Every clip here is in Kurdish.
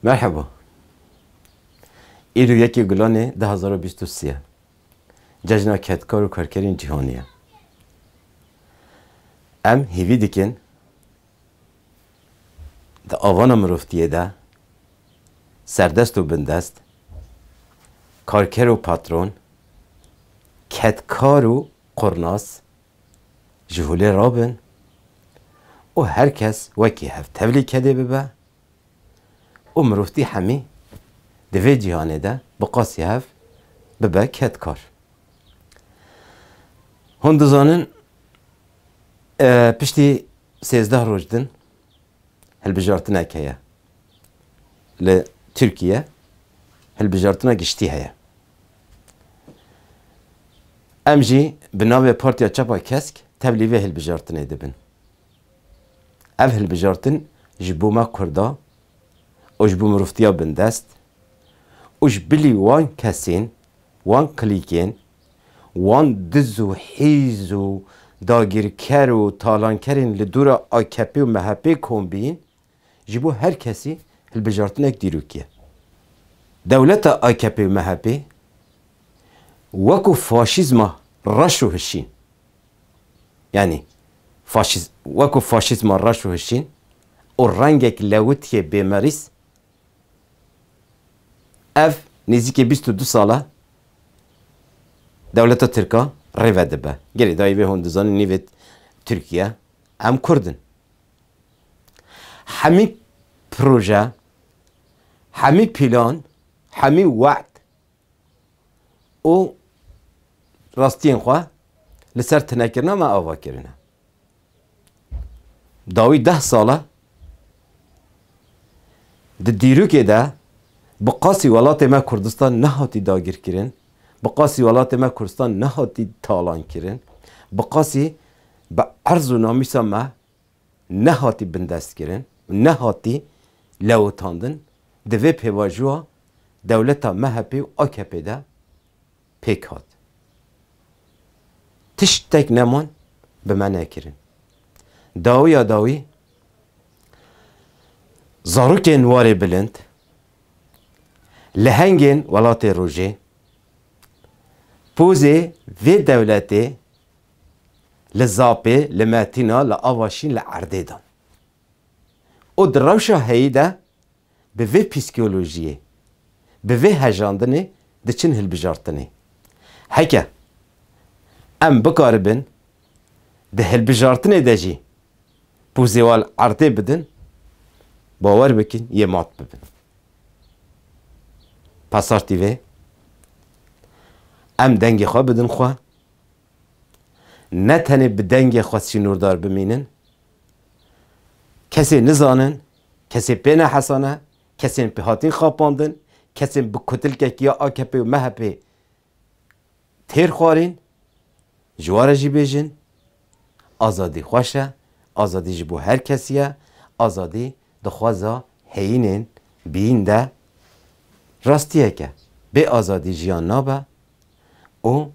Merheba. Îro yekê Gulanê du hezar û bîst û sê ye. Cejna Kedkar û Karkerên Cîhanê ye. Em hêvî dikin di avana mirovtiyê de serdest û bindest, karker û patron, kedkar û qurnas Ji holê rabin û her kes wekî hev tevlî kedê bibe û mirovtî hemî di vê cîhanê de bi qasî hev bibe kedkar. Hûn dizanin piştî sêzdeh roj din hilbijartinek heye. Li Tirkiye hilbijartina giştî heye. Em jî bi navê Partiya Çapa Kesk tevlî vê hilbijartinê dibin. Ev hilbijartin ji bo me Kurda û ji bo mirovtiya bindest û ji bilî wan kesên, wan klîkên, wan diz û hîz û dagîrker û talankerên li dora AKP'ê û MHP'ê kom bîn, Ji bo her kesî hilbijartinek dîrokî ye. Dewleta akp û MHP'ê wekû faşîzma reş û hişîn, yanî faşîz wekû faşîzma reş û hişîn û rengek lewitiyê bêmerîz, ev nêzîkî bîst û du sal e dewleta tirk a rêve dibe. Gelê dayê wê hûn dizanin nîvê tirk ye, em kurd in. Hemî proje, hemî pîlan, hemî we'd û rastiyên xwe li ser tunekirina me ava kirine. Dawî deh sal e di dîrokê de bi qasî welatê me Kurdistan nehatî dagirkirin. Bi qasî welatê me Kurdistan nehatî talankirin, bi qasî bi erz û namîsa me nehatî bindestkirin û nehatî lewitandin, di vê pêvajoya dewleta MHP'ê û AKP'ê de pêk hat. Tiştek neman bi me nekirin. Dawiya dawî zarokên warê bilind Lehengên welatê rojê, pozê vê dewletê li Zapê, li Metîna, li Avaşîn, li Erdê dan û di rewşa heyî de bi vê pîskolojiyê, bi vê hejandinê diçin hilbijartinê. Heke em bikaribin, Di hilbijartinê de jî ku zêwal erdê bidin, bawer bikin yê mat bibin. Pasar TV, Em dengê xwe bidin xwe, ne tenê bi dengê xwe sînordar bimînin, kesê nizanin, kesê pê ne hesane, kesên pê hatin xapandin, kesên bi kotilkekî ya AKP'ê û MHP'ê têr xwarîn, ji wan re jî bêjin, azadî xweş e, azadî ji bo her kesî ye, azadî di xweza heyînên bîyîn de rastiyek e. Bê azadî jiyan nabe û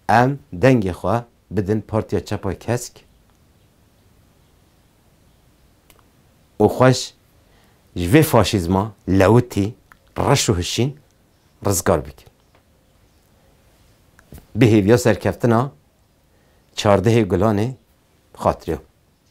em dengê xwe bidin Partiya Çapa Kesk û xweş ji vê faşîzma lewitî, reş û hişîn rizgar bikin. Bi hêviya serkeftina çardehê gulanê xatirê xwe.